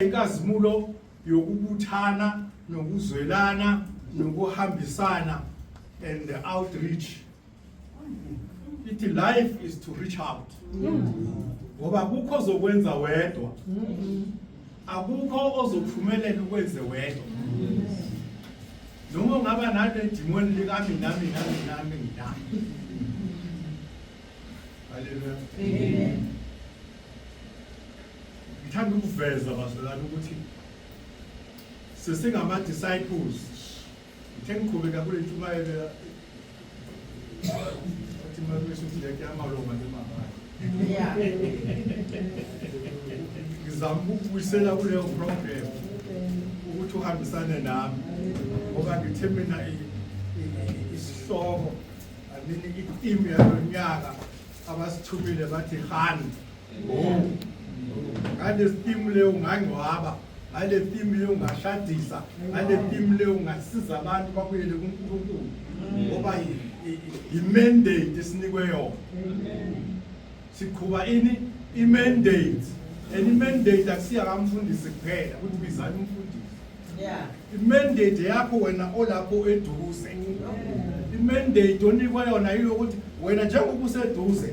inkazimulo yokubuthana nokuzwelana nokuhambisana and the outreach ithi life is to reach out ngoba kukho zokwenza wedwa akukho ozophumelela ukwenze wedwa noma ungaba nale dimoni likami nami nami nami nami haleluya amen Ngithanda ukuveza bazalwane ukuthi sesingama disciples ngithe ngiqhubeka kule ntshumayelo athi makumisho ukuthi lento yamaloma nemabala ngizama ukubuyisela kuleyo program ukuthi uhambisane nami ngoba ngithe mina isihloko anini i-team yalo nyaka abasithumile bathi hani ngale theme leyo ungangcwaba ngale theme leyo ungashadisa ngale theme leyo ungasiza abantu babuyele kuNkulunkulu ngoba imandate esinikwe yona siqhuba ini imandate and imandate akusiya kamfundisi kuphela ukuthi bizani umfundisi yeah imandate yakho wena olapho eduze imandate onikwa yona yilokuthi wena njengoba useduze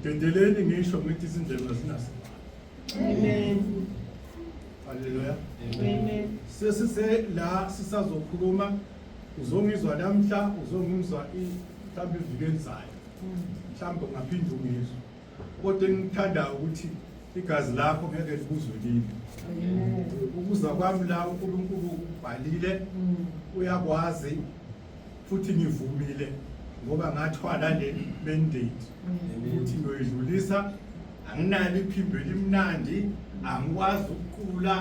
Ngidedeleni ngisho ngithi izindlela zinaso. Amen. Haleluya. Amen. Sesise la sisazokhuluma uzongizwa namhla uzongimzwa mhlawumbe iviki elizayo. Mhlawumbe ungaphinde ungizwe. Kodwa engithanda ukuthi igazi lakho ngeke libuzwe kimi. Ukuza kwami la uNkulunkulu ubhalile uyakwazi futhi ngivumile ngoba ngathwala le mandate ukuthi ngiyoyidlulisa anginalo iphimbo elimnandi angikwazi ukuqula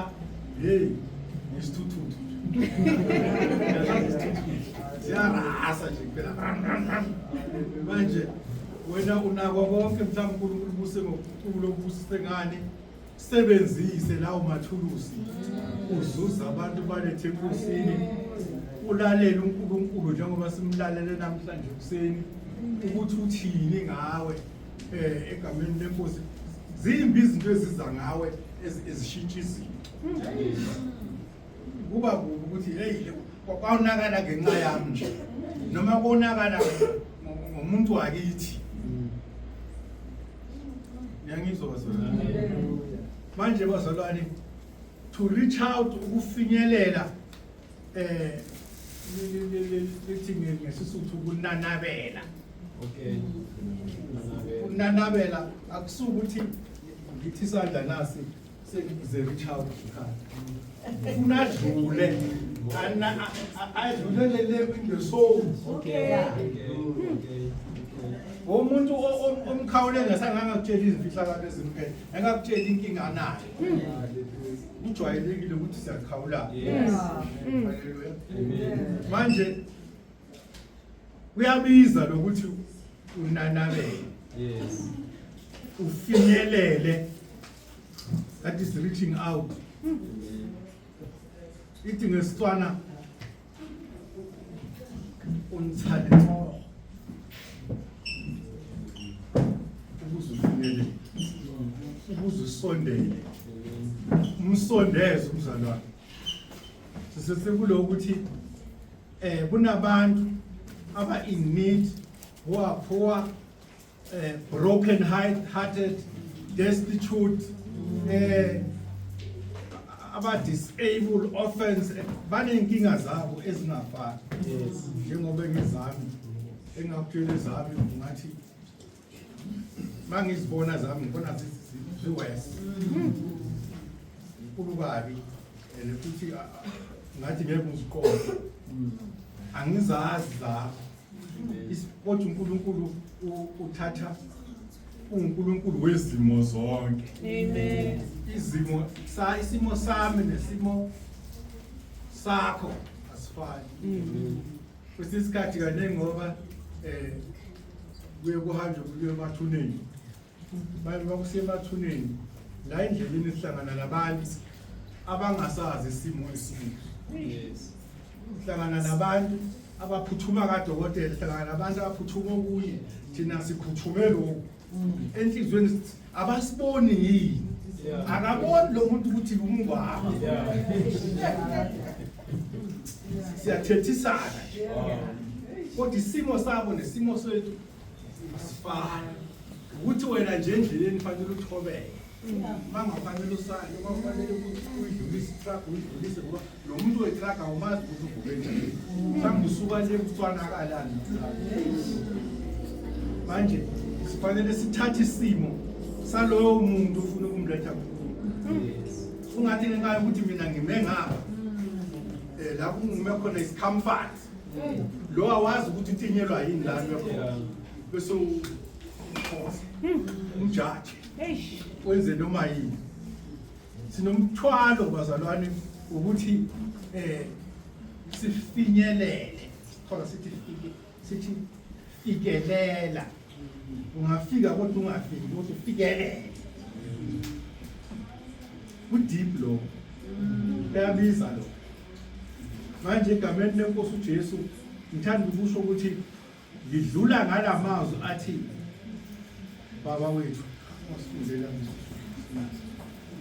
hey ngisithuthuthu siyarasa nje kuphela manje wena unakwa konke mhlawumbe unkulunkulu ubuse ngokuqula obusise ngani sebenzise lawo mathulusi uzuza abantu balethe enkosini ulalele uNkulunkulu njengoba simlalele namhlanje ekuseni ukuthi uthini ngawe eh egameni lenkosi zimbi izinto eziza ngawe ezishintsha izinto kuba kubi ukuthi hey kwawunakala ngenxa yami nje noma konakala ngomuntu wakithi yangizwa bazalwane manje bazalwane to reach out ukufinyelela eh lithi ngesisuthu kunanabela okay kunanabela akusukuthi ngithi isandla nasi Sekuze kuchawu isikhathi. Unadlule. Ana adlulele le window soul. Okay. Umuntu omkhawule ngesanganga kutshela izifihlakalo ezimphethe. Engakutshela inkinga anayo. Kujwayelekile ukuthi siyakhawulana. Yes. Hallelujah. Manje kuyabiza lokuthi unanabele. Yes. Ufinyelele that is reaching out ithi ngesitswana unithale ncoo ukuze ufinyelele ukuze usondele umsondeze umzalwane sisesekulo ukuthi eh kunabantu aba in need who are poor uh, broken hearted destitute eh aba disable orphans banenkinga zabo ezingafani yes njengoba ngizami engakutshela izami ngathi mangizibona zami ngibona ziwes inkulu kabi and futhi ngathi ngeke ngiziqonde angizazi lapho kodwa uNkulunkulu uthatha uNkulunkulu wezimo zonke amen izimo sa isimo sami nesimo sakho asifani mm-hmm. kwesinye isikhathi kaningi ngoba um kuye kuhanjwe kuye emathuneni bakusemathuneni la endleleni sihlangana nabantu abangasazi isimo esibi sihlangana nabantu abaphuthuma kadokotela sihlangana nabantu abaphuthuma okunye thina siphuthume lokhu enhliziyweni abasiboni yini akaboni lo muntu ukuthi umngwabo siyathethisana kodwa isimo sabo nesimo sethu asifani ukuthi wena nje endleleni fanele uthobeke mangafanele usale kwafanele uyidlulise itraga uyidlulise ngoba lo muntu wetraga awumazi ukuthi uvuke njani mhlawumbe usuka le kucwanakalani manje sifanele sithathe isimo saloyo muntu ufuna ukumletha ungathi ngenxa yokuthi mina ngime ngapha um lapho ungume khona isikhamfani lo awazi ukuthi utinyelwa yini la kuyakhona bese ukhosa umjaji wenze noma yini sinomthwalo bazalwane ukuthi eh sifinyelele khona sithi sithi fikelela ungafika kodwa ungafiki kodwa ufikelele kudeep lo uyabiza lo manje egameni lenkosi uJesu ngithanda ukusho ukuthi ngidlula ngalamazwi athi baba wethu osifundela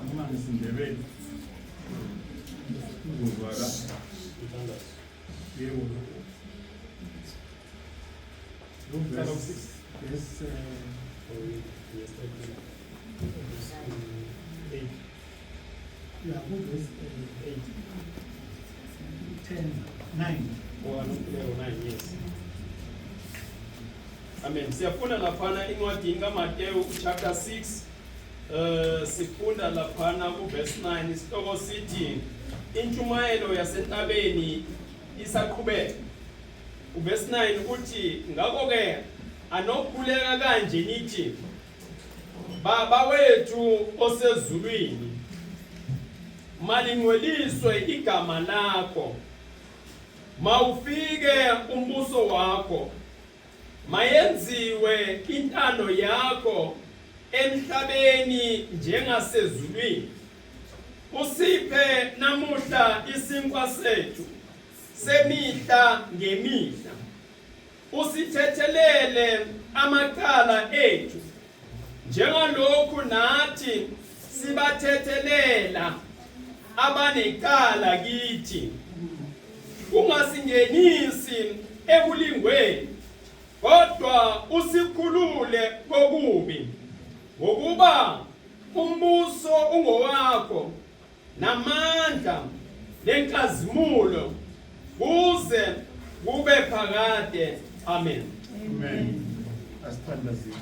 noma ngisindebele uzozwaka yebo Amen. Siyafunda laphana incwadini kaMateyu chapter 6 eh sifunda laphana ku verse 9 isihloko sithi intshumayelo yasentabeni isaqhubeka Uvesi 9 uthi ngakho-ke anokukhuleka kanje nithi Baba wethu osezulwini malingcweliswe igama lakho mawufike umbuso wakho mayenziwe intando yakho emhlabeni njengasezulwini usiphe namuhla isinkwa sethu semihla ngemihla usithethelele amacala ethu njengalokhu nathi sibathethelela abanecala kithi ungasingenisi ekulingweni kodwa usikhulule kokubi ngokuba umbuso ungowakho namandla nenkazimulo kuze kube phakade amen amen asithandazile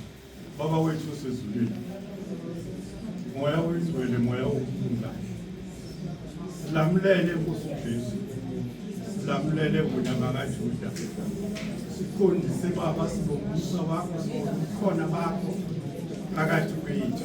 baba wethu osezulwini moya oyingcwele moya wokuphumula silamulele nkosi ujesu silamulele wena makajuda siqondise baba sibongusa wakho sibongukhona bakho phakathi kwethu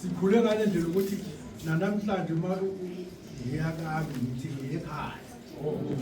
sikhule ngale ndlela ukuthi nanamhlanje uma ngiyakabi ngithi ngiyekhaya